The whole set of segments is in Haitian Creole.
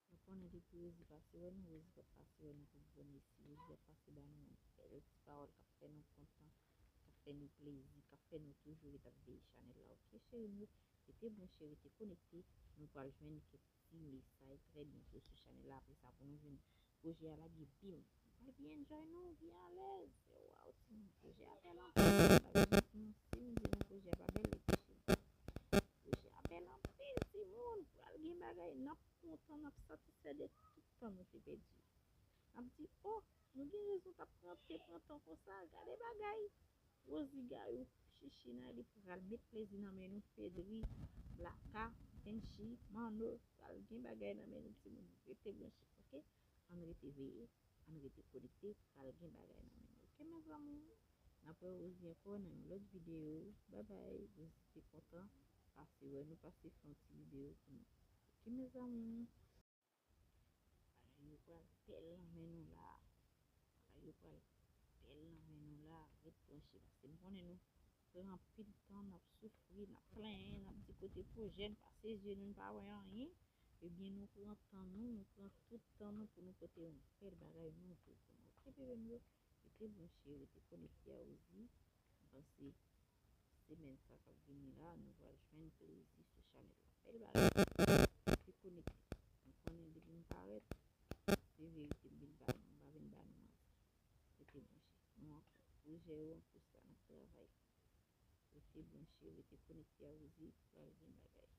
Nou konnen depi Rosie pase wè nou, Rosie pap pase wè nou pou bon esi. Rosie ap pase ba nou yon bèl ti pawòl kap fè nou kontan, kap fè nou plezi, kap fè nou toujou ret ap veye chanèl la ok cheri m yo. Rete branche, rete konekte, nou pral jwenn kèk ti mesay trè byento sou chanèl la apresa pou nou jwenn pwojè a lage bim! Mwen pi enjoy nou pi alez. Waw sim pwojè a bel anpil sim di nou pwojè a pa bel li pi chita. Pwojè a bel anpil timoun pral gen bagay nap kontan nap satisfè de tout tan nou te pèdi yo. Nap di oh nou gen rezon tap pran te pran tan konsa gade bagay Rosie Gayou, Chichi Nayli pral met plezi nan men nou Fedri, Blacka, Benchy, Manno pral gen bagay nan men nou timoun rete branche ok. Ann rete veye, ann rete konekte pral gen bagay nan menm ok mes amour nap wè Rosie ankò nan yon lòt video bye bye Rosie te kontan pase wè nou pase fè yon ti video pou nou ok mes amour. Bagay yo pral bèl nan men nou la bagay yo pral bèl nan men nou la ret branche paske m konnen nou. Aprè anpil tan n ap soufri, n ap plenyen, n ap di kote pwojè, n pase zye nou, n pa wè anyen, ebyen nou pran tan nou, nou pran tout tan nou pou nou pote yon bèl bagay nouvo pou nou ok bebe m yo? Rete branche, rete konekte a Rosie, m panse semèn sa k ap vini la nou pral jwenn plezi sou chanèl la bèl bagay rete konekte m konnen depi m parèt se verite m vin ba nou m pa vin ba nou manti. Rete branche. Nou ap pwojè yo pou sa nap travay. Rete branche, rete konekte Awouzi pral gen bagay.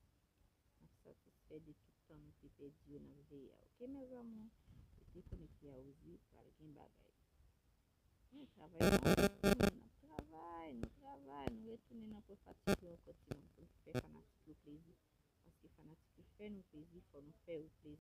Nap satisfè de tout tan nou te pèdi yo nap veye a ok mes amours rete konekte Awouzi pral gen bagay. Nou travay nou travay nou travay nou retounen nan pwen fatik yo ankò ti moun poun fè fanatik yo plezi paske fanatik yo fè nou plezi fò nou fè yo plezi.